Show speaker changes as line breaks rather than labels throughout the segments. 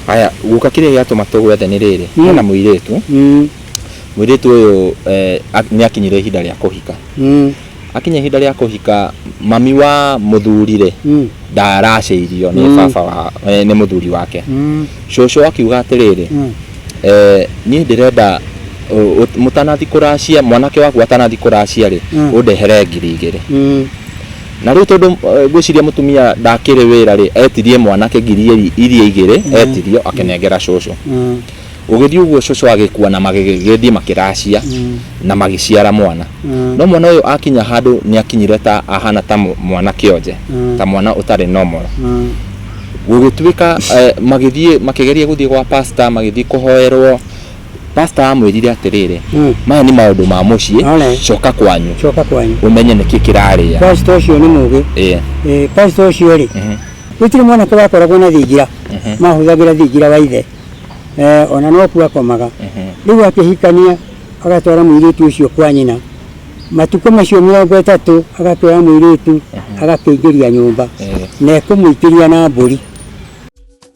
Haya, guka kĩrĩa gĩatũma tũgwethe nĩ rĩrĩ, Mm. hena mũirĩtu, Mm, mũirĩtu ũyũ eh, ak- nĩ akinyire ihinda rĩa kũhika. mm, Akinya ihinda rĩa kũhika, mami wa mũthuri rĩ, mm, ndaracĩirio nĩ Mm. baba wa, eh, nĩ mũthuri wake. mm, Cũcũ akiuga atĩrĩrĩ, mm. eh, niĩ ndĩrenda ũ- ũ- mũtanathi kũracia, mwanake waku atanathi kũracia rĩ, Mm. ũndehere ngiri igĩrĩ. Mm, Na rĩu tondũ eh, ngwĩciria mũtumia ndakĩrĩ wĩra rĩ etirie mwanake ngiri iri- iria igĩrĩ etirio akĩnengera cũcũ Mm. gũgĩthiĩ ũguo cũcũ agĩkua na magĩgĩthiĩ makĩracia na magĩciara mwana Mm. no mwana ũyũ akinya handũ nĩ akinyire ta ahana ta mũ- mwana kĩonje Mm. ta mwana ũtarĩ normal Mm. gũgĩtuĩka eh, magĩthiĩ makĩgeria gũthiĩ gwa pasta magĩthiĩ kũhoerwo Pastor amwĩrire atĩrĩrĩ, Mm. maya nĩ maũndũ ma mũciĩ, Alright. coka kwanyu coka kwanyu ũmenye nĩkĩ kĩrarĩa. pastor ũcio nĩ mũgĩ
Eh, Eh, pastor ũcio rĩ mhm, gũtirĩ mwanake wakoragwo na thingira mhm, mahũthagĩra thingira wa ithe Eh, ona no kuo akomaga mhm. rĩu akĩhikania agatwara mũirĩtu ũcio kwa nyina matukũ macio mĩrongo ĩtatũ agatwara mũirĩtu agakĩingĩria nyũmba Eh. na ekũmũikĩria na mbũri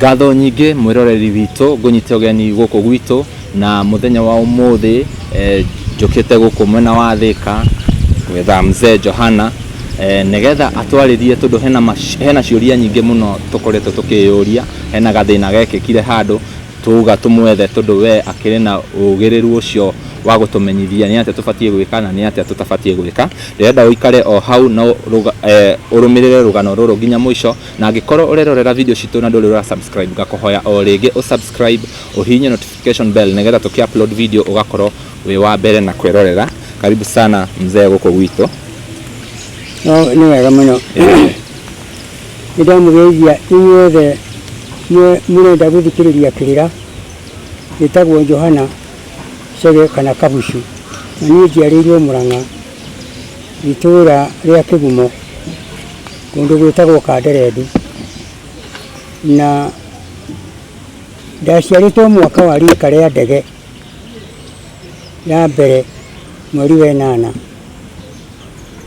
Ngatho nyingĩ mwĩroreri witũ ngũnyite ũgeni gũkũ gwitũ na mũthenya wa ũmũthĩ eh, njũkĩte gũkũ mwena wa Thĩka gwetha mzee Johana eh, nĩgetha atwarĩrie tondũ hena, mac- hena ciũria nyingĩ mũno tũkoretwo tũkĩyũria hena gathĩna gekĩkire handũ tuga tũmwethe tondũ we akĩrĩ na ũgĩrĩru ũcio wa gũtũmenyithia nĩ atĩa tũbatiĩ gwĩka na nĩ atĩa tũtabatiĩ gwĩka ndĩrenda ũikare o hau na ũrũga- eh, ũrũmĩrĩre rũgano rũrũ nginya mũico Na angĩkorwo ũrerorera video citũ na ndũrĩ ũra subscribe ngakũhoya o rĩngĩ ũ subscribe ũhihinye notification bell nĩgetha tũkĩ upload video ũgakorwo wĩ wa mbere na kwĩrorera. Karibu sana mzee gũkũ gwitũ.
No nĩ wega mũno. Nĩ ndamũgeithia inyuothe mwe- mũrenda gũthikĩrĩria kĩrĩra. Njĩtagwo Johana Chege kana Kabucu. Na niĩ njiarĩirwo Mũrang'a itũũra rĩa Kĩgumo. kũndũ gwĩtagwo Kanderendi, na ndaciarĩtwo mwaka wa rika rĩa ndege ya mbere mweri wa ĩnana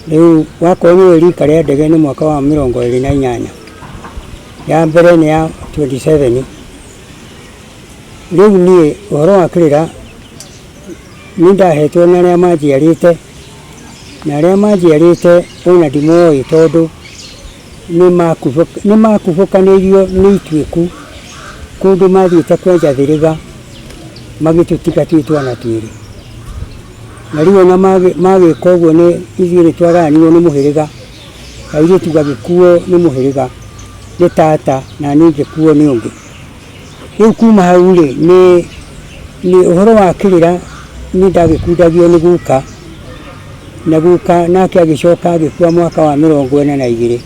rĩu wakorwo nĩ ũĩ rika rĩa ndege nĩ mwaka wa mĩrongo ĩrĩ na inyanya ya mbere nĩ ya 27 rĩu niĩ ũhoro wa kĩrĩra nĩ ndahetwo nĩ arĩa manjiarĩte Na arĩa manjiarĩte o na ndimoĩ, tondũ nĩmakubũkanĩirio nĩ ituĩku, kũndũ mathiĩte kwenja thĩrĩga, magĩtũtiga twĩ twana twĩrĩ. Na rĩu o na magĩka ũguo nĩ ithuĩ nĩtwagayanirwo nĩ mũhĩrĩga, airĩtu gagĩkuo nĩ mũhĩrĩga, nĩ tata, na niĩ ngĩkuo nĩ ũngĩ. Rĩu kuma hau-rĩ, nĩ nĩ ũhoro wa kĩrĩra nĩ ndagĩkundagio nĩ guka, na guka nake agĩcoka agĩkua mwaka wa mĩrongo ĩna na igĩrĩ.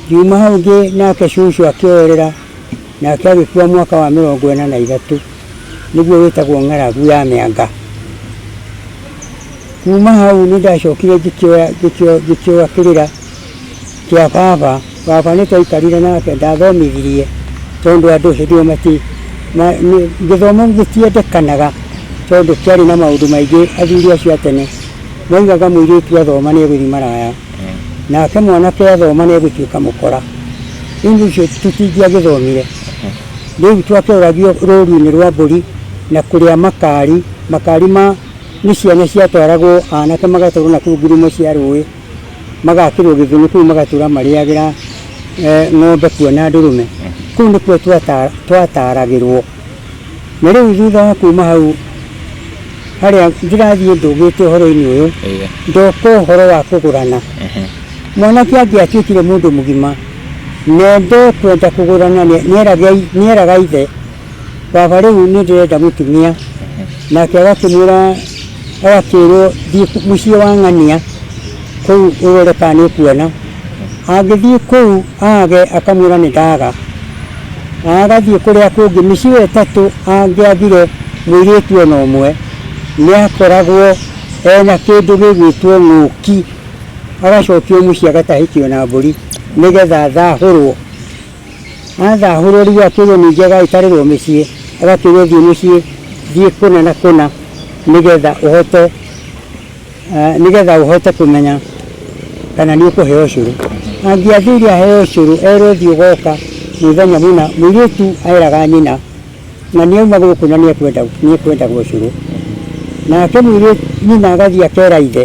Ngiuma hau ngĩ nake cũcũ akĩoerera, nake agĩkua mwaka wa mĩrongo ĩna na ithatũ, nĩguo wĩtagwo ng'aragu ya mĩanga. Kuma hau nĩ ndacokire ngĩkĩoya ngĩkĩoya ngĩkĩoya kĩrĩra Kĩa baba. Baba nĩ twaikarire nake ndathomithirie tondũ andũ hĩndĩ ĩyo mati ma- nĩ- gĩthomo gĩtiendekanaga tondũ kĩarĩ na maũndũ maingĩ athuri acio a tene maugaga mũirĩtu athoma nĩ egũthiĩ maraya nake mwanake athoma nĩ egũtuĩka mũkora rĩu nĩ ũcio tũtingĩagĩthomire rĩu twakĩũragio rũru-inĩ rwa mbũri na kũrĩa makari makari ma nĩ ciana ciatwaragwo anake magatwarwo nakũu ngurumo cia rũĩ magakĩrwo gĩthũnũ kũu magatũra marĩagĩra eh, ng'ombe kuo na ndũrũme kũu nĩkuo twata- twataragĩrwo na rĩu thutha wa kuma hau harĩa ndĩrathiĩ ndũgĩte ũhoro-inĩ ũyũ Ĩĩ. ndoka ũhoro wa kũgũrana Mhm. mwanake angĩatuĩkire mũndũ mũgima na ndekwenda kũgũrana nĩ- nĩeragai- nĩeraga ithe baba rĩu nĩ ndĩrenda mũtumia nake agakĩmwĩra agakĩrwo thiĩ mũciĩ wa ng'ania kũu ũrore kana nĩ kuona angĩthiĩ kũu age akamwĩra nĩ ndaga na agathiĩ kũrĩa kũngĩ mĩciĩ ĩyo ĩtatũ angĩathire mũirĩtu ona ũmwe nĩ akoragwo ena kĩndũ gĩgwĩtwo ng'ũki agacokio mũciĩ agatahĩkio na mbũri nĩgetha thahũrwo Atha hurũri we akĩrwo ningĩ agagĩtarĩrwo mĩciĩ agakĩrwo thiĩ mũciĩ thiĩ kũna na kũna nĩgetha ũhote nĩgetha ũhote kũmenya kana nĩ ũkũheo ũcũrũ angĩathire aheo ũcũrũ erwo thiĩ ũgoka mũthenya mũna mũirĩtu eraga nyina na nĩ auma gũkũ na nĩ ekwenda nĩ ekwendaga ũcũrũ nake mũirĩtu nyina agathiĩ akera ithe.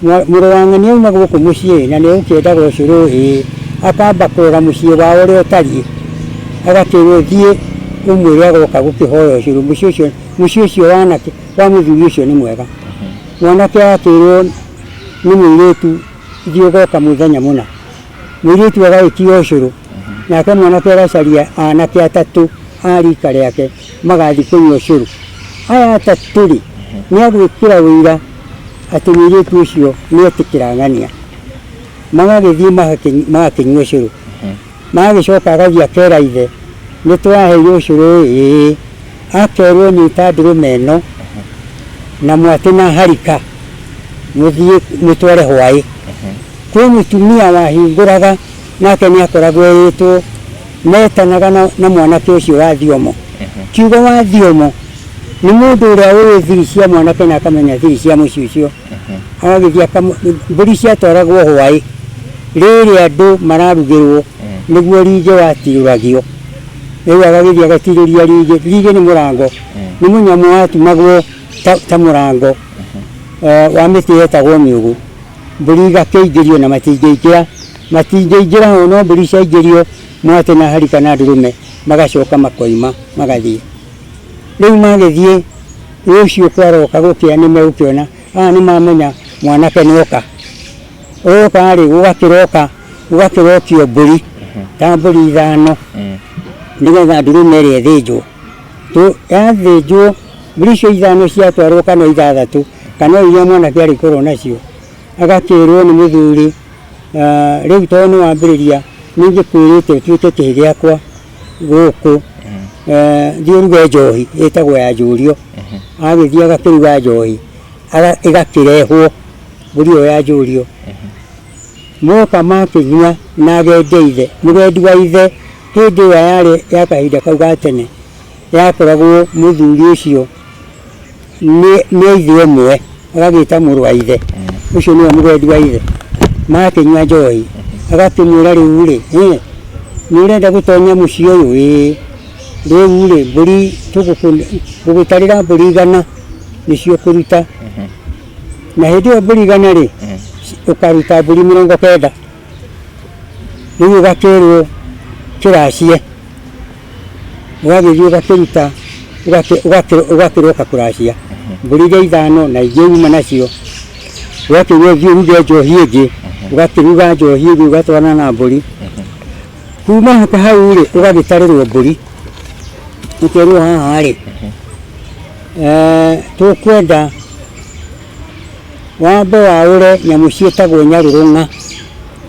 Mũrũ wa ng'ania auma gũkũ mũciĩ na nĩegũkĩendaga ũcio rũĩ, akamba kũrora mũciĩ wao ũrĩa ũtariĩ, agakĩrwo thiĩ ũmwĩre agoka gũkĩhoya ũcũrũ, mũciĩ ũcio, mũciĩ ũcio wa anake, wa mũthuri ũcio nĩ mwega. Mwanake agakĩrwo nĩ mũirĩtu thiĩ ũgoka mũthenya mũna. Mũirĩtu agagĩtia ũcũrũ, nake mwanake agacaria anake atatũ a rika rĩake magathiĩ kũnyua ũcũrũ. Aya atatũ-rĩ, nĩagwĩkĩra ũira. atĩ mũirĩtu ũcio nĩ etĩkĩra ng'ania magagĩthiĩ magakĩ- magakĩnyua ũcũrũ magagĩcoka agathiĩ akera ithe nĩ twaheire ũcũrũ ĩĩ akerwo nyita ndũrũme ĩno na mwatĩ na harika mũthiĩ mũtware hwaĩ kwĩ mũtumia wahingũraga Nake nĩakoragwo eĩtwo, meetanaga na, na mwanake ũcio wa thiomo. Kiugo wa thiomo nĩ mũndũ ũrĩa ũĩ thiri cia mwanake na akamenya thiri cia mũciĩ ũcio. Agagĩthiĩ akamu, mbũri ciatwaragwo hwaĩ rĩrĩa andũ mararugĩrwo nĩguo ringĩ watirũragio. Rĩu agagĩthiĩ agatirũria ringĩ. Ringĩ nĩ mũrango, nĩ mũnyamũ watumagwo ta, ta mũrango eh, wa mĩtĩ yetagwo mĩũgũ. Mbũri igakĩingĩrio na matingĩingĩra. Matingĩingĩra o no mbũri ciaingĩrio mwatĩ na hari kana ndũrũme magacoka makoima magathiĩ. Rĩu magĩthiĩ rũciũ kwaroka gũkĩa nĩ megũkĩona aa nĩ mamenya mwanake nĩ oka. Oka rĩ gũgakĩroka gũgakĩrokio mbũri ta mbũri ithano nĩ getha ndũrũme ĩrĩa ĩthĩnjwo. Yathĩnjwo mbũri icio ithano ciatwarwo kana ithathatũ kana o iria mwanake arĩkorwo nacio agakĩrwo nĩ mũthuri... Ah, rĩu tondũ nĩ wambĩrĩria nĩ ingĩkwĩrĩte ũtuĩke kĩhĩ gĩakwa gũkũ Eh, thiĩ ũruge njohi ĩtagwo ya njũrio agĩthiĩ agakĩruga njohi aga- ĩgakĩrehwo mbũri ĩyo ya njũrio moka makĩnyua na agende ithe mũgendi wa ithe hĩndĩ ĩyo yarĩ ya kahinda kau ga tene yakoragwo mũthuri ũcio nĩ nĩ a ithe ũmwe agagĩta mũrũ wa ithe ũcio nĩwe mũgendi wa ithe magakĩnyua njohi agakĩmwĩra rĩu rĩ "Eh, nĩ ũrenda gũtonya mũciĩ ũyũ ĩĩ rĩu rĩ mbũri tũgũtarĩra mbũri igana nĩcio ũkũruta na hĩndĩ ĩyo mbũri igana rĩ ũkaruta mbũri mĩrongo kenda rĩu ũgakĩrwo kĩracie ũgagĩthiĩ ũgakĩruta ũgakĩ- ũgakĩ- ũgakĩrwo ũgakũracia mbũri iria ithano na ingĩ uma nacio ũgakĩrwo thiĩ ũruge njohi ĩngĩ ũgakĩruga njohi ĩngĩ ũgatwarana na mbũri kuma haka hau rĩ ũgagĩtarĩrwo mbũri ũkerwo haha rĩ eh, tũkwenda wambe waũre nyamũ ciĩtagwo nyarũrũng'a,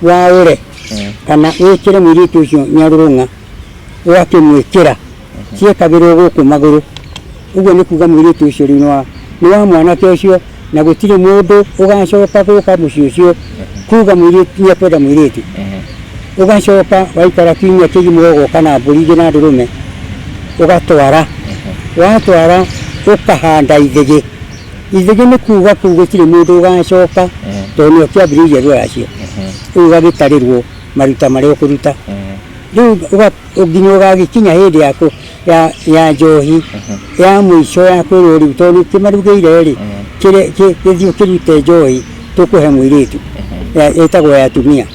waũre kana wĩkĩre mũirĩtu ũcio nyarũrũng'a, ũgakĩmwĩkĩra, ciekagĩrwo gũkũ magũrũ, ũguo nĩ kuga mũirĩtu ũcio rĩu nĩ wa nĩ wa mwanake ũcio, na gũtirĩ mũndũ ũgacoka gũka mũciĩ ũcio kuga mũirĩtu nĩ ekwenda mũirĩtu, ũgacoka waikara kiumia kĩgima ũgoka na mbũri ingĩ na ndũrũme, ũgatwara, watwara ũkahanda ithĩgĩ. Ithuĩ nĩ kuuga kũu gũtirĩ mũndũ ũgacoka Ehe. tondũ nĩo kĩambĩrĩria rũracio Ehe. rĩu ũgagĩtarĩrwo maruta marĩa ũkũruta Ehe. rĩu ũga- nginya ũgagĩkinya hĩndĩ ya kũ- ya- ya njohi ya mũico ya kwĩrwo rĩu tondũ nĩ kĩmarugĩire rĩ kĩrĩ- kĩ- gĩthiĩ kĩrute njohi tũkũhe mũirĩtu Ya- ĩtagwo ya atumia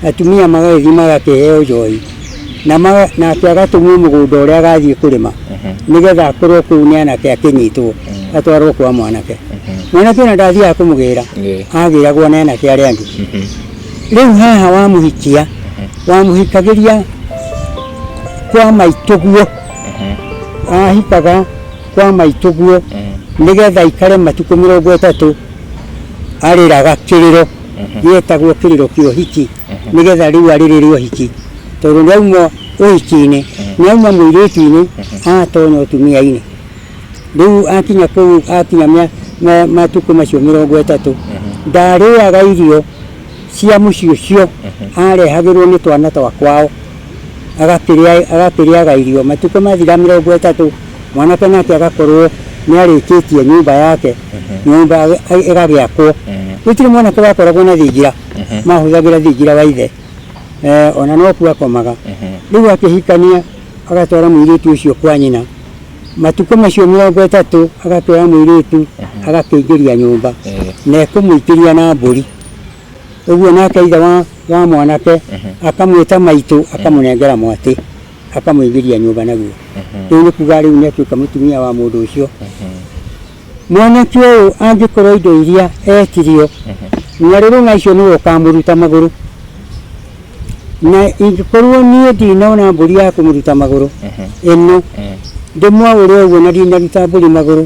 atumia magagĩthiĩ magakĩheo njohi na maga- nake agatũmwo mũgũnda ũrĩa agathiĩ kũrĩma nĩgetha akorwo kũu nĩ anake akĩnyitwo atwarwo kwa mwanake mwanake ona ndathiaga kũmũgĩra Ĩĩ. agĩragwo nĩ anake arĩa angĩ rĩu haha wamũhikia wamũhikagĩria kwa maitũguo ahikaga kwa maitũguo nĩgetha aikare matukũ mĩrongo ĩtatũ arĩraga kĩrĩro yetagwo kĩrĩro kĩa ũhiki nĩgetha rĩu arĩ rĩrĩ ũhiki tondũ nĩ auma ũhiki-inĩ nĩ auma mũirĩtu-inĩ atona ũtumia-inĩ rĩu akinya kũu akinya mĩa- ma- matukũ macio mĩrongo ĩtatũ ndarĩaga irio cia mũciĩ ũcio arehagĩrwo nĩ twana twa kwao agakĩrĩa- agakĩrĩaga irio. Matukũ mathira mĩrongo ĩtatũ, mwanake nake agakorwo nĩarĩkĩtie nyũmba yake, nyũmba ĩga- ĩga- ĩgagĩakwo. Gũtirĩ mwanake wakoragwo na thingira, mahũthagĩra thingira wa ithe. Eh, ona nokuo akomaga. Rĩu akĩhikania, agatwara mũirĩtu ũcio kwa nyina. Matukũ macio mĩrongo ĩtatũ, agakĩoya mũirĩtu, agakĩingĩria nyũmba, na ekũmũingĩria na mbũri. Ũguo nake ithe wa, wa mwanake akamwĩta maitũ, akamũnengera mwatĩ, akamũingĩria nyũmba naguo. Rĩu nĩ kuga rĩu nĩ atuĩka mũtumia wa mũndũ ũcio. Mwanake ũyũ angĩkorwo indo iria etirio, na rĩrĩ ng'a icio nĩwe ũkamũruta magũrũ, na ingĩkorwo niĩ ndinona mbũri ya kũmũruta magũrũ ĩno, ndĩmwaũre ũguo na ndinaruta mbũri magũrũ,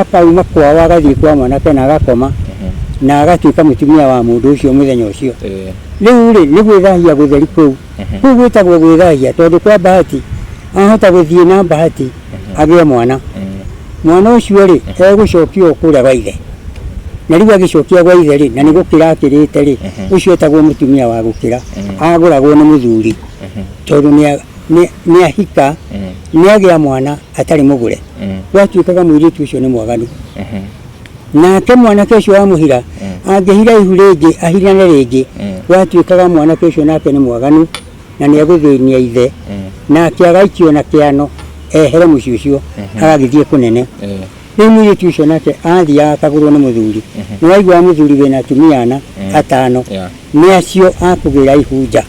akauma kwao agathiĩ kwa mwanake na agakoma na agatuĩka mũtumia wa mũndũ ũcio mũthenya ũcio rĩu rĩ nĩ gwĩthahia gũtheri kũu kũu gwĩtagwo gwĩthahia tondũ kwa bahati ahota gũthiĩ na bahati agĩe mwana mwana ũcio rĩ egũcokia o kũrĩa gwa ithe na rĩu agĩcokia gwa ithe rĩ na nĩ gũkĩra akĩrĩte rĩ ũcio etagwo mũtumia wa gũkĩra agũragwo nĩ mũthuri tondũ nĩ a- nĩ- nĩ ahika nĩ agĩa mwana atarĩ mũgũre mm. gwatuĩkaga mũirĩtu ũcio nĩ mwaganu mm-hmm. nake mwanake ũcio wa mũhira mm. angĩhira ihu rĩngĩ ahirane rĩngĩ mm. gwatuĩkaga mwanake ũcio nake nĩ mwaganu na nĩ egũthĩnia ithe nake agaikio na kĩano ehere mũciĩ ũcio mm-hmm. agagĩthiĩ kũnene rĩu mũirĩtu ũcio nake athiaga akagũrwo nĩ mũthuri mm-hmm. nĩ waigua mũthuri wĩna atumia ana atano nĩ acio akũgĩra ihu nja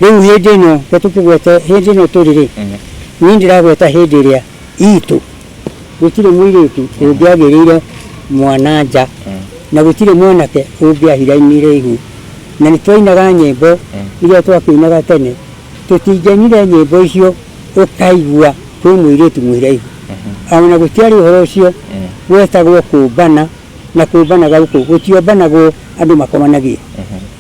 Rĩu hĩndĩ ĩno, reke tũkĩgwete hĩndĩ ĩno tũrĩ-rĩ, niĩ ndĩragweta hĩndĩ ĩrĩa iitũ. Gũtirĩ mũirĩtu ũngĩagĩrĩire mwana-a-nja, na gũtirĩ mwanake ũngĩahira ini iraihu. Na nĩtwainaga nyĩmbo iria twakĩinaga tene, tũtingiainire nyĩmbo icio ũkaigua kwĩ mũirĩtu mũiraihu. O na gũtiarĩ ũhoro ũcio, gwetagwo kũũmbana. na kũũmbanaga gũkũ gũtiombanagwo andũ makomanagie.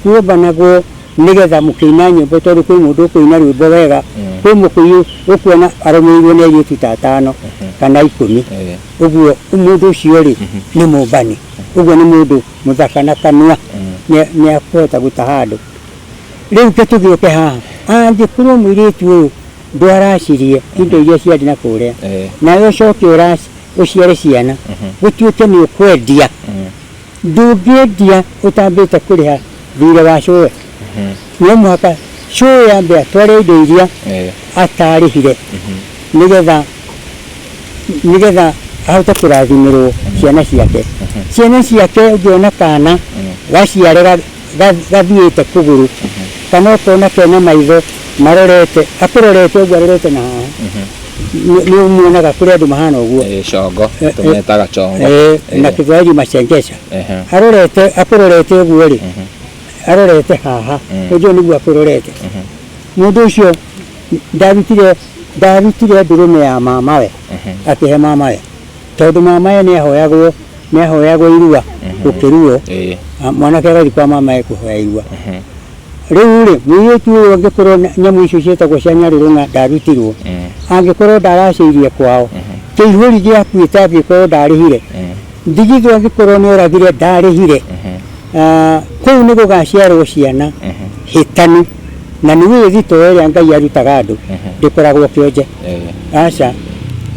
Kuombanagwo nĩgetha mũkĩina nyĩmbo tondũ kwĩ mũndũ ũkũina rwĩmbo wega, kwĩ mũkũyũ ũkuona arũmĩrĩirwo nĩ airĩtu ta atano kana ikũmi. Ũguo mũndũ ũcio rĩ, nĩ mũmbani. Ũguo nĩ mũndũ mũthaka na kanua nĩ nĩ akũhota gũtaha andũ. Rĩu ke tũgĩũke haha, angĩkorwo mũirĩtu ũyũ ndwaracirie indo iria ciarĩ nakũrĩa, nawe ũcoke ũraci. ũciare ciana gũtuĩke nĩ ũkwendia ndũngĩendia ũtambĩte kũrĩha thirĩ wa cũwe no mũhaka cũwe ambe atware indo iria Eh, atarĩhire nĩgetha nĩgetha ahote kũrathimĩrwo ciana ciake ciana ciake ũngĩona kana gaciarĩra gathiĩte kũgũrũ kana ũkona kena maitho marorete akũrorete ũguo arorete na haha nĩ umuonaga kũrĩ andũ mahana ũguo eh, congo eh, eh. tũmetaga
congo na kĩthwaĩri
macengeca arorete akũrorete ũguo rĩ mhm. arorete haha mhm. ũguo nĩguo akũrorete mhm. mũndũ ũcio ndarutire ndarutire ndũrũme ya mamawe akĩhe mamawe Tondũ mamae nĩ ahoyagwo nĩ ahoyagwo irua gũkĩruo Ĩĩ. a- mwanake agathiĩ kwa mamae kũhoya irua Mhm. rĩu rĩ mũirĩtu ũyũ angĩkorwo na- nyamũ icio ciĩtagwo cia nyarĩrũ na ndarutirwo Mm. angĩkorwo ndaracĩirie kwao kĩihũri gĩakuĩte angĩkorwo ndarĩhire Mm. ndigithũ angĩkorwo nĩ oragire ndarĩhire Mhm. Ah, kũu nĩ gũgaciarwo ciana Mhm. hĩtanu na nĩ wĩthito ĩrĩa ngai arutaga andũ Mhm. ndĩkoragwo kĩonje Aca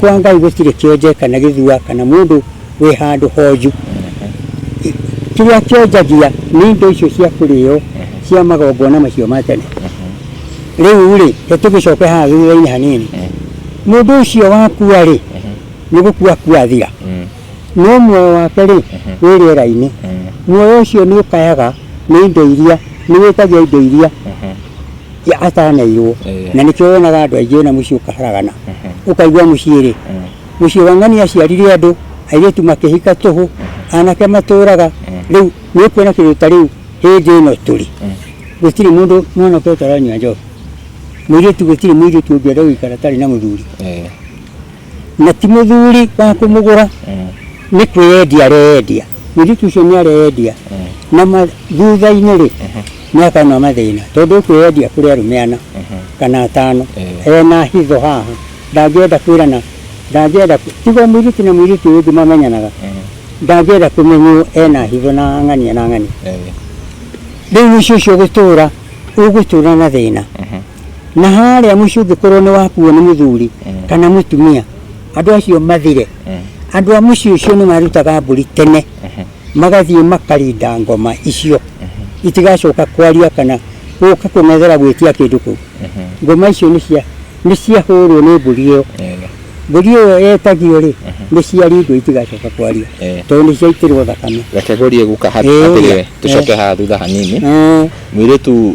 kwa Ngai gũtirĩ kĩonje kana gĩthua kana mũndũ wĩ handũ honju. Kĩrĩa kĩonjagia nĩ indo icio cia kũrĩo cia magongona macio ma tene. Rĩu-rĩ, he tũgĩcoke haha thutha-inĩ hanini. Mũndũ ũcio wakua-rĩ, nĩ gũkua akua athira. no muoyo wake rĩ wĩ rĩera-inĩ muoyo ũcio nĩ ũkayaga nĩ indo iria nĩ wĩtagia indo iria ya- ataneirwo Eh. na nĩkĩo wonaga andũ aingĩ ona mũciĩ ũkaharagana ũkaigua mũciĩ rĩ mũciĩ wa ng'ania aciarire andũ airĩtu makĩhika tũhũ anake matũraga rĩu nĩ ũkuona kĩndũ ta rĩu hĩndĩ ĩno tũrĩ gũtirĩ mũndũ mwana ũke ũtaranyua njohi mũirĩtu gũtirĩ mũirĩtu ũngĩenda gũikara atarĩ na mũthuri Na ti mũthuri wa kũmũgũra, nĩ kwĩyendia areyendia. Mũirĩtu ũcio nĩ areyendia na ma- thutha-inĩ-rĩ, nĩ akona mathĩna tondũ ekwĩyendia kũrĩ arũme ana kana atano ena hitho haha, ndangĩenda kwĩrana, ndangĩenda kũ- tiga o mũirĩtu na mũirĩtu ũyũ ũngĩ mamenyanaga, ndangĩenda kũmenywo ena hitho na ng'ania na ng'ania. Rĩu mũico ũcio gũtũra, ũgũtũra na thĩna. Na harĩa mũciĩ ũngĩkorwo nĩ wakuo nĩ mũthuri kana mũtumia, andũ acio mathire, andũ a mũciĩ ũcio nĩ marutaga mbũri tene, magathiĩ makarinda ngoma icio itigacoka kwaria kana gũka kũng'ethera gwĩtia kĩndũ kũu. Ngoma icio nĩ cia nĩ ciahũrwo nĩ mbũri ĩyo, mbũri ĩyo yetagio rĩ, nĩ ciaringwo itigacoka kwaria tondũ nĩ ciaitĩrwo thakame. Reke ngũrie guka haha
Ĩĩ. atĩrĩrĩ, tũcoke haha thutha hanini. Mũirĩtu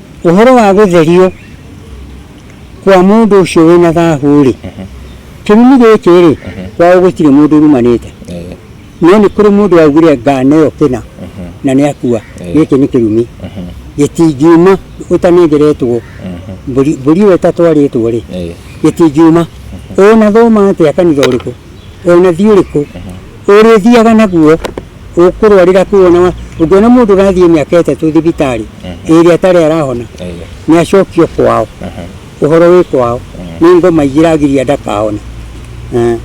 Ũhoro wa gũtherio kwa mũndũ ũcio wĩna thahũ-rĩ, kĩrumi gĩkĩ-rĩ, kwao gũtirĩ mũndũ ũrumanĩte, no nĩ kũrĩ mũndũ waugire ngano ĩyo kĩna na nĩakua. Gĩkĩ nĩ kĩrumi, gĩtingiuma ũtanengeretwo mbũri, mbũri ĩyo ĩtatwarĩtwo-rĩ, gĩtingiuma ũnathoma atĩa kanitha ũrĩkũ. we ũnathi ũrĩkũ ũrĩthiaga naguo ũkũrwarĩra kũu ona wa- ũngĩona mũndũ ũrathiĩ mĩaka ĩtatũ thibitarĩ ĩrĩa atarĩ arahona Ĩĩ. nĩ acokio kwao Aha. ũhoro wĩ kwao nĩ ngoma ingĩragiria ndakahona Eh.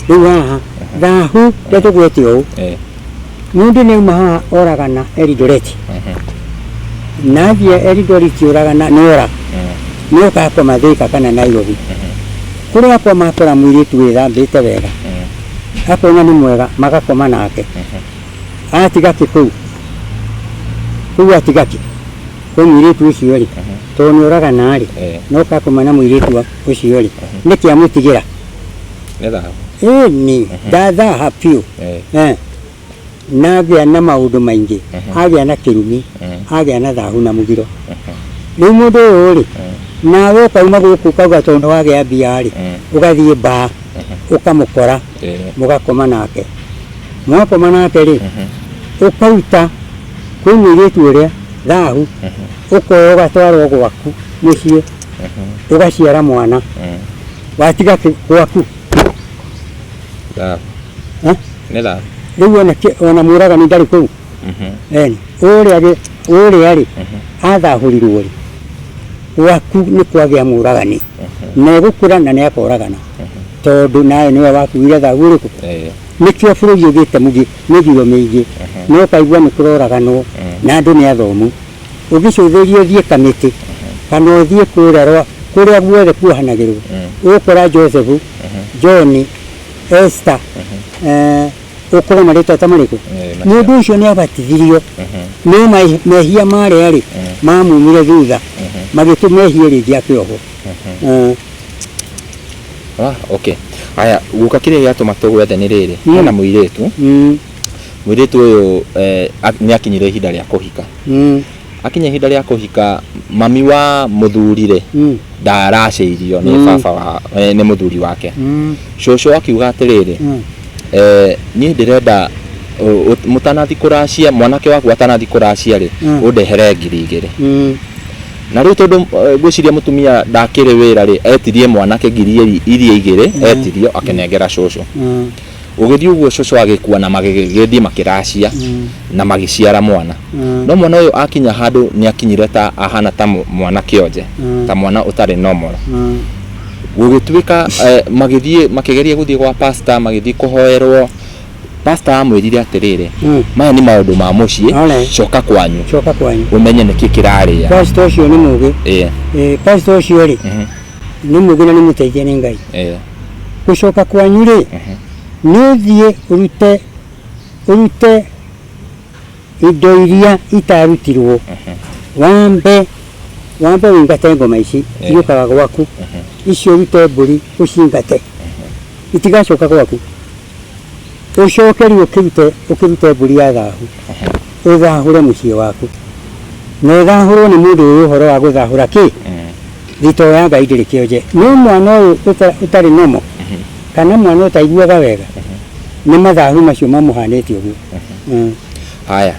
rĩu haha thahu rĩa tũgwete ũũ Ĩĩ. Mũndũ nĩauma haha oragana Elidoreti na athiĩ Elidoreti oragana nĩ ora nĩ oka akoma Thika kana Nairobi kũrĩa akoma akora mũirĩtu wĩthambĩte wega akona nĩ mwega magakoma nake atiga kĩ kũu kũu atiga kĩ kwĩ mũirĩtu ũcio rĩ tondũ nĩ oragana rĩ na oka akoma na mũirĩtu wa- ũcio rĩ nĩkĩ amũtigĩra Nĩ thahabu. ĩni ndathaha biũ Eh. Eh. nagĩa na maũndũ maingĩ agĩa na kĩrumi agĩa na thahu na mũgiro rĩu mũndũ ũyũ rĩ nawe ũkauma gũkũ ũkauga tondũ wagĩa mbia rĩ ũgathiĩ mbaa ũkamũkora Eh. mũgakoma nake mwakoma nake rĩ ũkaruta kwĩ mũirĩtu ũrĩa thahu ũkoya ũgatwarwo gwaku mũciĩ ũgaciara mwana watiga kĩ- gwaku Thabu. Eh? Nĩ thabu. rĩu ona kĩ- ona mũragani ndarĩ kũu Mhm. Eni, ũrĩa rĩ ũrĩa rĩ athahũrirwo rĩ gwaku nĩ kwagĩa mũragani na egũkũra na nĩ akoragana tondũ nawe nĩwe wakuire thagu ũrĩkũ Eh. nĩkĩo bũrũri ũgĩte mũgi mĩthiro mĩingĩ no kaigua nĩ kũroraganwo na andũ nĩ athomu Ũngĩcũthĩrĩria ũthiĩ Kamĩtĩ kana ũthiĩ kũrĩa kũrĩa guothe kuohanagĩrwo, ũgũkora Joseph, John, Esther, ũkore marĩtwa ta marĩkũ? Mũndũ ũcio nĩ abatithirio no mehia marĩa rĩ, mamumire thutha magĩtũma ehie rĩngĩ afe oho.
Okay. Haya, guka kĩrĩa gĩatũma tũgwethe nĩ rĩrĩ, hena mũirĩtu. Mũirĩtu ũyũ eh, ak- nĩ akinyire ihinda rĩa kũhika. Mm. Akinya ihinda rĩa kũhika, mami wa mũthuri-rĩ, Mm. ndaracĩirio nĩ Mm. baba wa, eh, nĩ mũthuri wake. Mm. Cũcũ akiuga atĩrĩrĩ, Mm. eh, niĩ ndĩrenda ũ- ũ- mũtanathi kũracia, mwanake waku atanathi kũracia-rĩ, Mm. ũndehere ngiri igĩrĩ. Mm. na rä u tondå ngwäciria må tumia ndakärä wä ra rä etirie mwanake ngiri iri- iria igä rä etirio akenengera cåcå Mm. Gũgĩthiĩ ũguo cũcũ agĩkua na magĩgĩthiĩ makĩracia na magĩciara mwana. No mwana ũyũ akinya handũ nĩ akinyire ta ahana ta mũ- mwana kĩonje, ta mwana ũtarĩ normal. Gũgĩtuĩka eh, magĩthiĩ makĩgeria gũthiĩ gwa pastor, magĩthiĩ kũhoerwo. Pastor amwĩrire atĩrĩrĩ, Mm. maya nĩ maũndũ ma mũciĩ, Alright. coka kwanyu coka kwanyu ũmenye nĩkĩ kĩrarĩa. pastor ũcio nĩ mũgĩ
Eh, Eh, pastor ũcio rĩ nĩ mũgĩ na nĩ mũteithia nĩ ngai eh. gũcoka kwanyu rĩ nĩ ũthiĩ ũrute ũrute indo iria itarutirwo wambe wambe wĩingate ngoma ici iũkaga gwaku icio ũrute mbũri ũcingate itigacoka gwaku Ũcoke rĩu ũkĩrute, ũkĩrute mbũri ya thahu, ũthahũre mũciĩ waku. Na ĩthahũrwo nĩ mũndũ ũĩ ũhoro wa gũthahũra kĩ? Thito ya Ngai ndĩrĩ kĩonje. No mwana ũyũ ũta- ũtarĩ nomo, kana mwana ũtaiguaga wega, nĩ mathahu macio mamũhanĩte ũguo. Mm. Haya,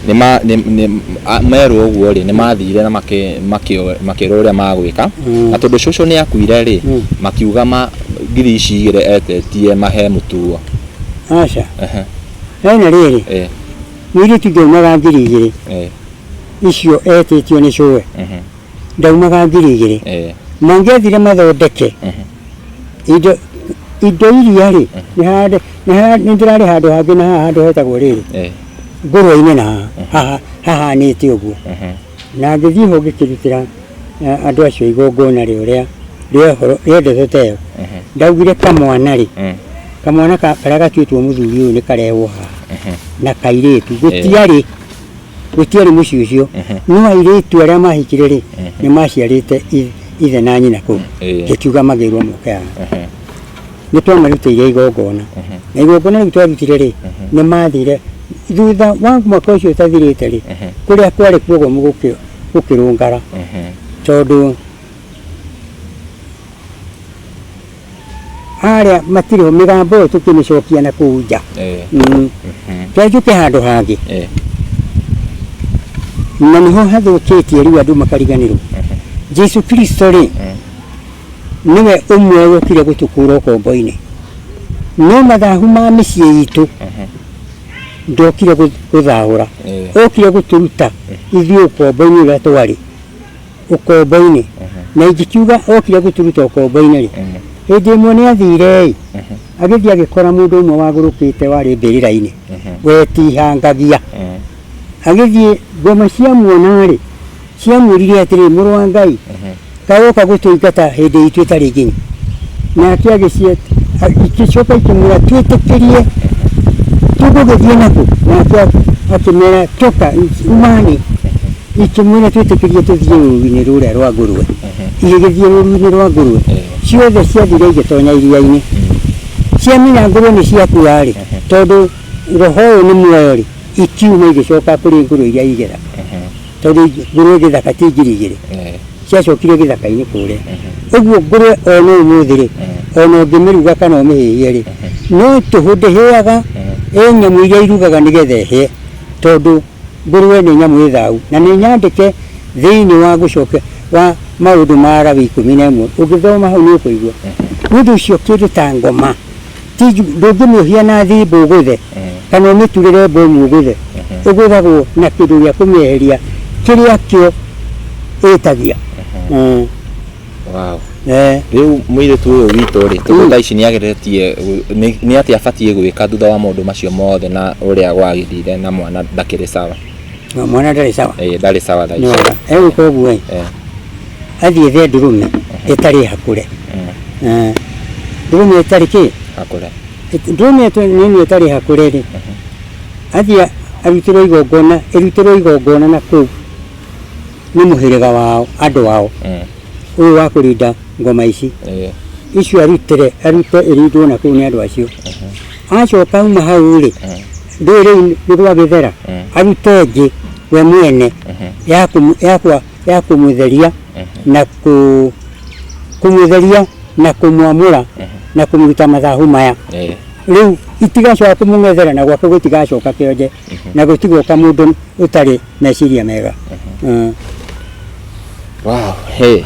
nĩma- nĩ- nĩ- a- merwo ũguo rĩ nĩmathire na makĩ- makĩ- makĩrwo ũrĩa magwĩka Mm. na tondũ cũcũ nĩ akuire rĩ Mm. makiuga ma ngiri ici igĩrĩ etetie mahe mũtuo aca
Ehe, he na rĩrĩ eh, mũirĩtu ndionaga ngiri igĩrĩ eh, icio etĩtio nĩ cũwe mhm. ndaumaga ngiri igĩrĩ eh. mangĩathire mathondeke indo indo iria rĩ nĩ ndĩrarĩ handũ hangĩ na haha handũ hetagwo rĩrĩ eh. ngũrũ-inĩ na haha hahanĩte ũguo na ngĩthiĩ ho ngĩkĩrutĩra eh, andũ acio igongona rĩo rĩa rĩendete ta ĩyo ndaugire kamwana rĩ eh. kamwana karĩa gatuĩtwo mũthuri ũyũ nĩ karehwo haha na kairĩtu gũtiarĩ gũtiarĩ mũciĩ ũcio Ehe. no airĩtu arĩa mahikire rĩ Ehe. nĩ maciarĩte i- ithe na nyina kũu Ĩĩ. gĩkiuga magĩrwo moke haha Ehe. nĩ twamarutĩire igongona Ehe. na igongona rĩu twarutire rĩ nĩ mathire thutha wa mwaka ũcio ũtathirĩte rĩ Ehe. kũrĩa kwarĩ kuogomu gũkĩ- gũkĩrũngara Ehe. tondũ harĩa matirĩ ho mĩgambo ĩyo tũkĩmĩcokia na kũu nja Eh, Mm. mhm, twenjũke handũ hangĩ eh, na nĩho hathũkĩtie rĩu andũ makariganĩrwo jesu kristo rĩ nĩwe ũmwe wokire gũtũkũra ũkombo-inĩ no mathahu ma mĩciĩ itũ mhm, ndokire gũ- gũthahũra eh. okire gũtũruta ithuĩ ũkombo-inĩ ũrĩa twarĩ ũkombo-inĩ na ingĩkiuga okire gũturuta ũkombo-inĩ rĩ hĩndĩ ĩmwe nĩ athire-ĩ agĩthiĩ agĩkora mũndũ ũmwe wagũrũkĩte warĩ mbĩrĩra-inĩ wetihangagia agĩthiĩ ngoma ciamuona-rĩ ciamwĩrire atĩrĩ mũrũ wa Ngai kaĩ woka gũtũingata hĩndĩ itũ ĩtarĩ nginyu nake agĩciet igĩcoka ikĩmwĩra twĩtĩkĩrie tũgũgĩthiĩ nakũ nake akĩmera toka umani Ikĩmwĩra, Twĩtĩkĩrie tũthiĩ rũũru-inĩ rũrĩa rwa ngũrwe. Igĩgĩthiĩ rũũru-inĩ rwa ngũrwe. Ciothe ciathire igĩtonya iria-inĩ. Ciamenya ngũrwe nĩ ciakua-rĩ, tondũ roho ũyũ nĩ muoyo-rĩ, ikiuma igĩcoka kũrĩ ngũrwe iria igera. Tondũ ngũrwe gĩthaka ti ngiri igĩrĩ. Ciacokire gĩthaka-inĩ kũrĩa. Ũguo ngũrwe o na ũmũthĩ-rĩ, o na ũngĩmĩruga kana ũmĩhĩhie-rĩ, no tũhũ ndĩhĩaga, ĩ nyamũ iria irugaga nĩgetha ĩhĩe, tondũ Ngũrũe nĩ nyamũ ĩ thaahu na nĩ nyandĩke thĩinĩ wa gũcokia wa Maũndũ ma Alawii ikũmi na ĩmwe. Ũngĩthoma hau nĩ ũkũigua. Nĩ ũndũ ũcio kĩndũ ta ngoma ti njũru, ndũngĩmĩohia na thimbũ ũgũthe kana ũmĩturĩre mbomu ũgũthe. Ĩgũthagwo na kĩndũ gĩa kũmĩeheria kĩrĩa kĩo ĩtagia.
Wow. Eh. Rĩu mũirĩtu ũyũ witũ rĩ, tondũ thaa ici nĩ ageretie gũ- nĩ- nĩ atĩ abatiĩ gwĩka thutha wa maũndũ macio mothe na ũrĩa gwagĩthire na mwana ndakĩrĩ sawa. Na mwana ndarĩ
sawa. Eh, ndarĩ sawa thaa ici. Nĩwona.
Egwĩka ũguo ĩ,
Eh, athiĩ ethe ndũrũme ĩtarĩ hakũre. mm, Eh, Ndũrũme ĩtarĩ kĩ? akũre. Ĩt-
Ndũrũme ĩtwe-
nĩ ĩno ĩtarĩ hakũre rĩ. Athiĩ arutĩrwo igongona, ĩrutĩrwo igongona na kũu. nĩ mũhĩrĩga wao andũ ao eh, ũyũ wa kũrinda ngoma ici eh, icio arutĩre arute ĩrindwo na kũu nĩ andũ acio acoka uma hau rĩ eh, rĩrĩ nĩ gwa gĩthera Mm. arute ĩngĩ we mwene mhm, ya kũmũ- ya kwa- ya kũmũtheria mhm, na kũ- kũmũtheria na kũmwamũra na kũmũruta mathahu maya eh, rĩu itigacoka kũmũng'ethera na gwake gũtigacoka kĩonje na gũtigoka mũndũ ũtarĩ meciria mega Mm. Wow,
hey.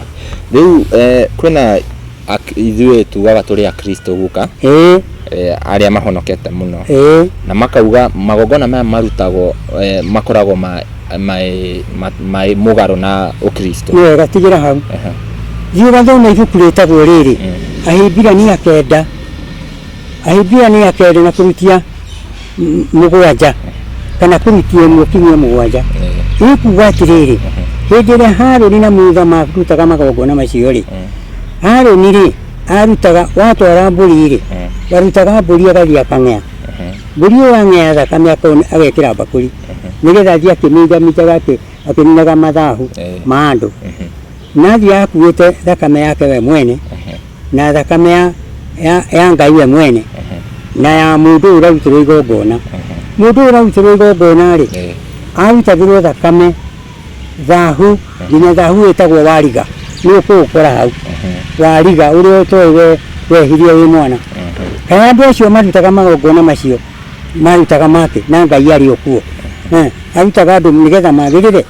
Rĩu eh, kwĩna ak- ithuĩ tugaga tũrĩ akristo guka ĩĩ eh, arĩa mahonokete mũno ĩĩ na makauga magongona maya marutagwo eh, makoragwo ma, ma, ma, ma, mũgarũ na ũkristo nĩ wega tigĩra hau
Aha. thiĩ ũgathome ibuku rĩtagwo rĩrĩ ahĩmbirania kenda Ahibrania keri na kurutia m- mũgwanja kana kurutia ĩmwe kinyia mũgwanja ĩkuga atĩrĩrĩ hĩndĩ ĩrĩa harũni na mutha marutaga magongona macio rĩ harũni rĩ arutaga watwara mbũri rĩ warutaga mbũri agathiĩ akang'ea mbũri ĩyo yang'ea thakame akona- agekĩra mbakũri nĩgetha athiĩ akĩminjaminjaga akĩ- akĩninaga mathahu Eh. ma andũ Na athiaga akuĩte thakame yake we mwene, Ehe. na thakame ya, ya, ya Ngai we mwene, Ehe. na ya mũndũ ũyũ ũrarutĩrwo igongona. Ehe. Mũndũ ũyũ ũrarutĩrwo igongona-rĩ, Eh. arutagĩrwo thakame thahu, nginya thahu ĩtagwo wariga, nĩ ũkũũkora hau Ehe. wariga ũrĩa ũtoĩ we wehirie wĩ mwana Ehe. kana andå acio marutaga magongona macio marutaga make na ngai arä o kuo Eh, arutaga andå nä getha magä rä re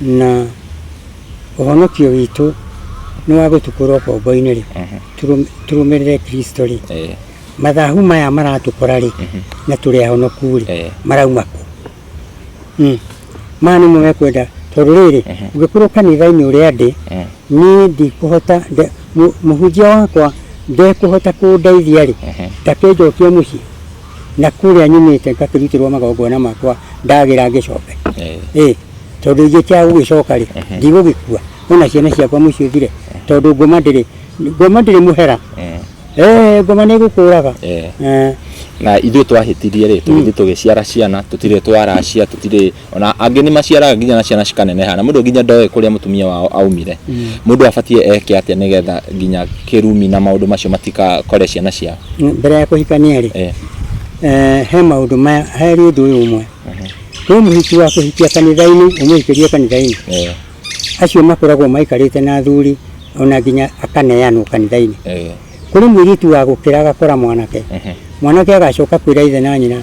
na ũhonokio witũ nĩ wa gũtũkũra ũkombo-inĩ rĩ tũrũ- tũrũmĩrĩre kristo rĩ Eh, mathahu maya maratũkora rĩ na tũrĩ ahonoku rĩ Eh. marauma kũ Mm. maya nĩmo mekwenda tondũ rĩrĩ ũngĩkorwo kanitha-inĩ ũrĩa ndĩ eh, niĩ ndikũhota nde- mũ- mũhunjia wakwa ndekũhota kũndeithia rĩ Ehe. ta kĩnjokia mũciĩ na kũrĩa nyumĩte ngakĩrutĩrwo magongona makwa ndagĩra ngĩcoke Eh. ĩ tondũ ingĩkĩaga gũgĩcoka rĩ ndigũgĩkua ona ciana ciakwa mũciĩ ũthire tondũ ngoma ndĩrĩ ngoma ndĩrĩ mũhera Eh. Eh, ngoma nĩ ĩgũkũraga Eh. Eh,
na ithuĩ twahĩtirie rĩ tũgĩthiĩ tũgĩciara ciana tũtirĩ twaracia tũtirĩ ona angĩ nĩ maciaraga nginya na ciana cikaneneha na mũndũ nginya ndoĩ kũrĩa mũtumia wao aumire mm. mũndũ abatie eke atĩa nĩgetha nginya kĩrumi na maũndũ macio matikakore ciana ciao mbere ya kũhikania
rĩ eh. Eh, he maũndũ maya he ũndũ ũyũ ũmwe mhm. kwĩ mũhiki wa kũhikia kanitha-inĩ ũmũhikĩrie kanitha-inĩ eh. acio makoragwo maikarĩte na athuri ona nginya akaneanwo kanitha-inĩ kũrĩ mũirĩtu wa gũkĩra agakora mwanake mhm. mwanake agacoka kwĩra ithe na nyina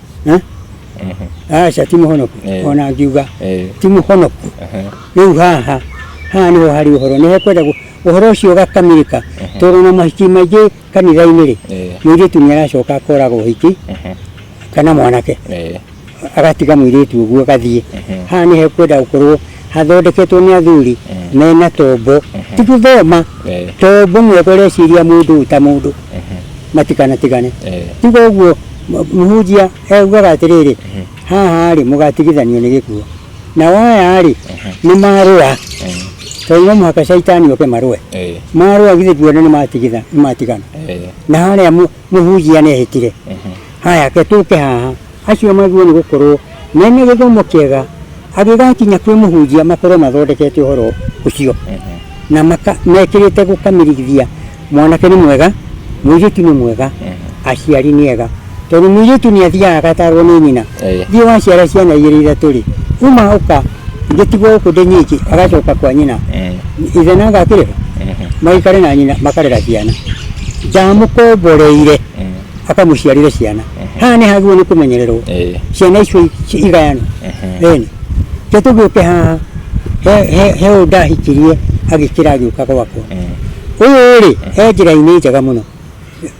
Eh? Ehe. aca ti mũhonoku Eh. ona ngiuga Eh. ti mũhonoku Ehe. rĩu haha haha nĩho harĩ ũhoro nĩ hekwenda gu- ũhoro ũcio ũgakamirĩka tondũ na mahiki maingĩ kanitha-inĩ rĩ Eh. mũirĩtu nĩ aracoka akoraga ũhiki Ehe. kana mwanake Eh. agatiga mũirĩtu ũguo agathiĩ haha nĩ hekwenda gũkorwo hathondeketwo nĩ athuri mena tombo ti gũthoma Eh. tombo mwega ũreciria mũndũ ta mũndũ matikanatigane Eh. tiga ũguo m- mũhunjia eugaga atĩrĩrĩ haha rĩ mũgatigithanio nĩ gĩkuo nao aya rĩ nĩ marũa tondũ no mũhaka caitani oke marũe Eh. marũa githĩ nguona nĩ matigitha- nĩ matigana Eh. na harĩa mũ- mũhunjia nehĩtire haya ke tũke haha Acio mathuo nĩ gũkorwo mena gĩthomo kĩega, agĩgakinya kwĩ mũhunjia makorwo mathondekete ũhoro ũcio na maka, mekĩrĩte gũkamĩrigithia, mwanake nĩ mwega, mũirĩtu nĩ mwega, aciari nĩ ega. Tondũ mũirĩtu nĩ athiaga agatarwo nĩ nyina, Ĩĩ. thiĩ waciara ciana igĩrĩ ithatũ rĩ, uma ũka ngĩtigwo gũkũ ndĩ nyiki, agacoka kwa nyina, ithe nanga akĩrĩho, magaikare na nyina makarera ciana, ndamũkomboreire. akamũciarĩre ciana haha nĩ hagĩrĩirwo nĩ kũmenyererwo Eh, ciana icio ci- igayanwo ehe. ĩni ke tũgĩũke haha he- he- he ũyũ ndahikirie agĩkĩra agĩũka gwakwa Eh, ũyũ rĩ he njĩra-inĩ njega mũno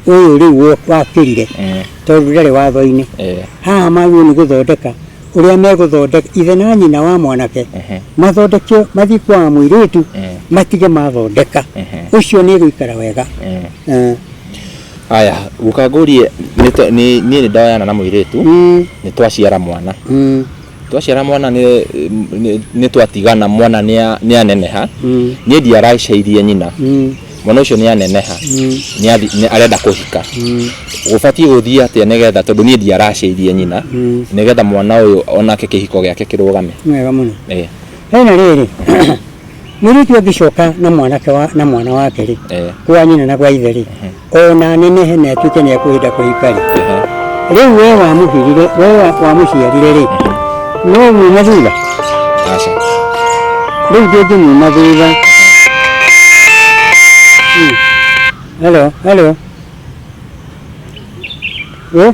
ũyũ rĩu wo- wakĩrire eh, tondũ ndarĩ watho-inĩ eh, haha magĩrĩirwo nĩ gũthondeka ũrĩa megũthondeka ithe na nyina wa mwanake ehe, mathondeke mathiĩ kwa wa mũirĩtu Eh. matige mathondeka ehe, ũcio nĩ gũikara wega eh. Eh. Aya,
guka ngũrie nĩ twa- nĩ- niĩ nĩ ndoyana na mũirĩtu Mm, nĩ twaciara mwana mm, twaciara mwana nĩ- nĩ- nĩ twatigana mwana nĩa- nĩaneneha mm, niĩ ndiaracairie nyina mm, mwana ũcio nĩaneneha mm, nĩathi- nĩ- arenda kũhika mm, gũbatiĩ gũthiĩ atĩa nĩgetha tondũ niĩ ndiaracairie nyina mm. nĩgetha mwana ũyũ onake kĩhiko
gĩake
kĩrũgame Nĩ
wega mũno.
Eh. He
na rĩrĩ,
mũirĩtu
angĩcoka na mwanake wa, na mwana wake rĩ, Eh. kwa nyina na kwa ithe rĩ, o na anenehe na atuĩke nĩ ekũhĩnda kũhika rĩ, Ehe. rĩu we wamũhirire, we wa- wamũciarire rĩ, no muuma thutha, Aca. rĩu ndũngĩmuuma thutha. Hmm. Hello, hello. Eh?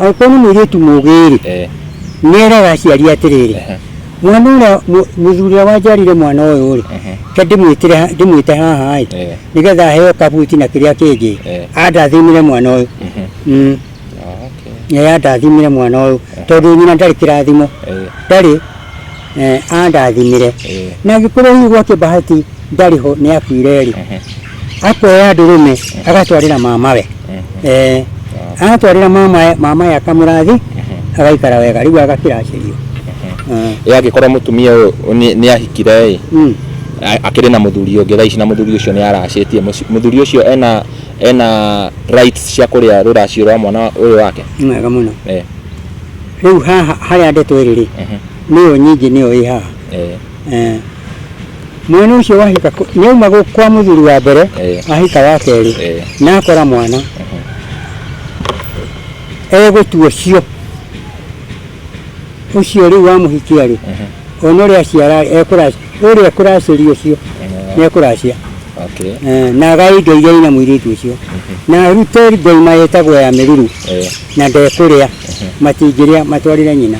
Angĩkorwo nĩ mũirĩtu mũũgĩ-rĩ, Eh, nĩeraga aciari atĩrĩrĩ, Ehe. mwana ũrĩa mũ- mũthuri ũrĩa wanjiarire mwana ũyũ-rĩ, Ehe. ke ndĩmwĩtĩre ha- ndĩmwĩte haha-ĩ, Eh. nĩgetha aheo kabuti na kĩrĩa kĩngĩ, Eh. andathimĩre mwana ũyũ. mhm. Mm. Oh, okay. Yeye andathimĩre mwana ũyũ, tondũ nyina ndarĩ kĩrathimo, Eh, ndarĩ eh, andathimire Eh. na angĩkorwo hihi gwake bahati ndarĩ ho nĩ akuire rĩ Ehe. akoya ndũrũme agatwarĩra mamawe Ehe. eh, agatwarĩra mamawe mamawe akamũrathi Ehe. agaikara wega rĩu agakĩracĩrio Eh, ĩ
angĩkorwo mũtumia ũyũ nĩ- nĩ ahikire ĩ mm. a- akĩrĩ na mũthuri ũngĩ thaa ici na mũthuri ũcio nĩ aracĩtie Mũci- mũthuri ũcio ena ena rights cia kũrĩa rũracio rwa mwana ũyũ wake nĩ wega mũno
Eh, rĩu haha harĩa ndeto ĩrĩ rĩ ehe. Nĩyo nyingĩ nĩyo ĩ haha. Eh. Eh. Mwana ũcio wahika kũ- nĩauma gũ- kwa mũthuri wa mbere Eh. ahika wa kerĩ Eh. na akora mwana egũtua ũcio ũcio rĩu wamũhikia rĩ ona ũrĩa aciara ekũracia ũrĩa ekũracĩria ũcio nĩekũracia Okay. Eh, na agai ngai igai na mũirĩtu ũcio na arute ngai mayetagwo ya mĩruru Eh. na ndekũrĩa matingĩrĩa matwarĩre nyina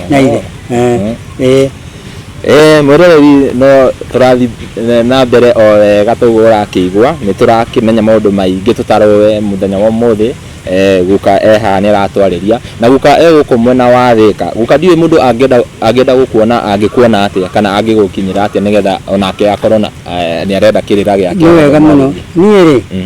na ithe Eh, Mm. eh, Eh, mwĩroreri no tũrathi eh, na mbere o wega toguo ũrakĩigua nĩ tũrakĩmenya maũndũ maingĩ tũtarowe mũthenya wa ũmũthĩ eh, guka eha nĩ aratwarĩria na guka e gũkũ mwena wa thĩka guka ndiũĩ mũndũ angĩenda angĩenda gũkuona angĩkuona atĩa kana angĩgũkinyĩra atĩa nĩgetha onake akorwo na eh, nĩ arenda kĩrĩra gĩake nĩ wega mũno niĩ rĩ Mm.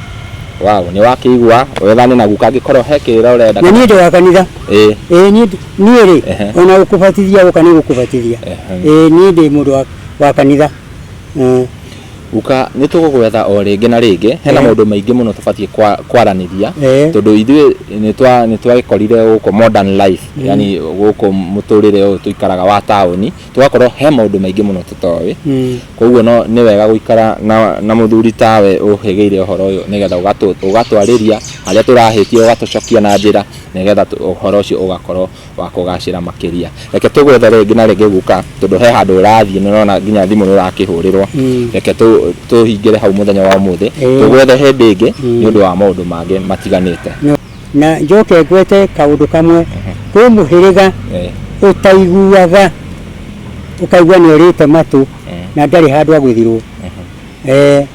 Wow, nĩ wakĩigua wethane na guka angĩkorwo he kĩrĩra ũrenda. Na niĩ ndĩ wa kanitha.
Ĩĩ. Ĩĩ niĩ niĩ rĩ Ehe. ona gũkũbatithia gũka nĩ gũkũbatithia. Ehem. Ĩĩ niĩ ndĩ mũndũ wa- wa kanitha.
Ĩĩ. Guka nĩ tũgũgwetha o rĩngĩ na rĩngĩ, hena Ehe. maũndũ maingĩ mũno tũbatiĩ kwa- kwaranĩria Ehe. tondũ ithuĩ nĩ twa- nĩ twagĩkorire gũkũ modern life yani gũkũ mũtũrĩre ũyũ tũikaraga wa taũni. tũgakorwo he maũndũ maingĩ mũno tũtoĩ mm. koguo no nĩ wega gũikara na, na mũthuri tawe ũhĩgĩire ũhoro ũyũ nĩgetha ũgatwarĩria harĩa tũrahĩtia ũgatũcokia na njĩra nĩgetha ũhoro ũcio ũgakorwo wa kũgacĩra makĩria reke tũgwethe rĩngĩ na rĩngĩ guka tondũ he handũ ũrathiĩ nĩrona nginya thimũ nĩũrakĩhũrĩrwo mm. reke tũhingĩre hau mũthenya wa ũmũthĩ tũgwethe hĩndĩ ĩngĩ mm. nĩ ũndũ wa maũndũ mangĩ matiganĩte Na
njoke ngwete kaũndũ kamwe, kwĩ mũhĩrĩga Eh, ũtaiguaga, ũkaigua nĩ orĩte matũ eh, na ndarĩ handũ agũthirwo. eh. Eh,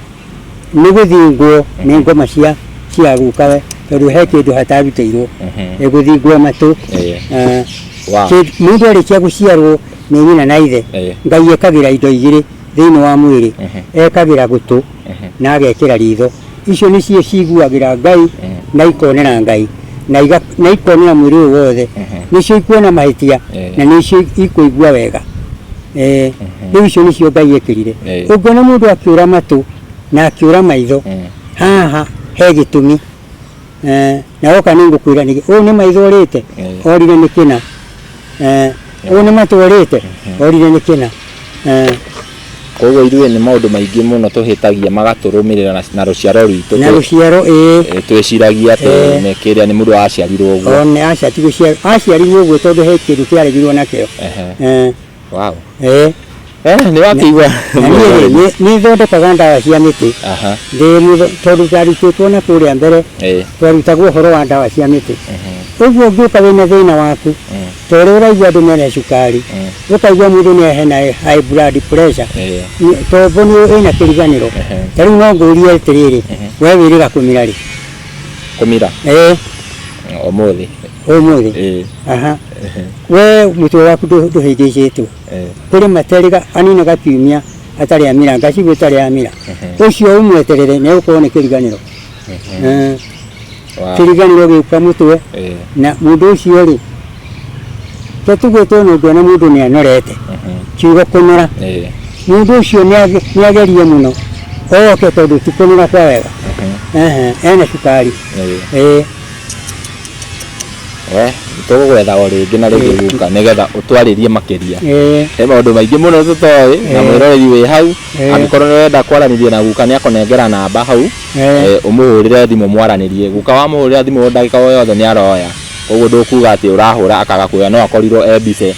nĩ gũthingwo nĩ ngoma cia cia gũkawe tondũ he kĩndũ hatarutĩirwo Mhm. Eh, gũthingwo matũ Eh. Ah, Wow. kĩ- mũndũ arĩkia gũciarwo nĩ nyina na ithe Eh. ngai ekagĩra indo igĩrĩ thĩinĩ wa mwĩrĩ Mhm. ekagĩra gũtũ Ehe. na agekĩra ritho icio nĩcio ciguagĩra ngai Ehe. na ikonera ngai na iga- na ikonera mwĩrĩ ũyũ wothe Ehe. nĩcio ikuona mahĩtia Ehe. na nĩcio ikũigua wega Eh, rĩu icio nĩcio ngai ekĩrire Ehe. ũngĩona mũndũ akĩũra matũ na akĩũra maitho Ehe. haha he gĩtũmi Eh, na woka nä ngå kwä ra nä å nä maitho rä te Eh. orire nä kä na å nä matå rä te orire nä kä na Eh,
koguo ithuĩ nĩ maũndũ maingĩ mũno tũhĩtagia magatũrũmĩrĩra na- na rũciaro rwitũ na rå ciaro ä
Eh, twĩciragia
atĩ Eh. nĩ kĩrĩa nĩ mũndũ waciarirwo ũguo one aca tigå
ciarirwo å guo tondå he kä ndå kä aregirwo nakä
Ehe. o
wow eh eh
ni wakigwa na niĩ-rĩ, nĩ- nĩ
thondekaga ndawa cia mĩtĩ aha ndĩ mũthe- tondũ ndarutĩtwo na kũrĩa mbere eh twarutagwo ũhoro wa ndawa cia mĩtĩ ũguo ũngĩũka wĩna thĩna waku ta ũrĩa ũraigua andũ mena cukari ũkaigua mũndũ nĩ ahena high blood pressure eh Nĩ- tombo nĩ ĩna kĩriganĩro ta rĩu no ngũrie atĩrĩrĩ we wĩrĩga kũmira rĩ kumira
eh umuthi umuthi eh aha
ehe, we mutwe waku ndũ- ndũhĩngĩcĩtwo eh kũrĩ materĩga anina gakiumia atarĩ amira ngacibu ĩtarĩ amira Ehe. ũcio ũmweterere nĩ ũkorwo nĩ kĩriganĩro ehe, Eh, wa- kĩriganĩro gĩũka mũtwe eh na mũndũ ũcio rĩ to tugĩtwo nĩ ũngĩona mũndũ nĩ anorete ehe, kiugo kũnora eh mũndũ ũcio nĩ age- nĩ agerie mũno oke tondũ ti kũnora kwa wega ehe, Ehe, ena cukari eh Ĩĩ.
Eh, tũgũgwetha o rĩngĩ na rĩngĩ Ĩĩ, tu- guka nĩgetha ũtwarĩrie makĩria Eh, he maũndũ maingĩ mũno tũtoĩ na Eh. mwĩroreri wĩ hau Eh. angĩkorwo nĩ wenda kwaranĩria na guka nĩ akũnengera namba hau eh, Eh, ũmũhũrĩre thimũ mwaranĩrie guka wamũhũrĩra thimũ ndagĩka o yothe nĩ aroya koguo ndũkuga atĩ ũrahũra akaga kuoya no akorirwo e mbice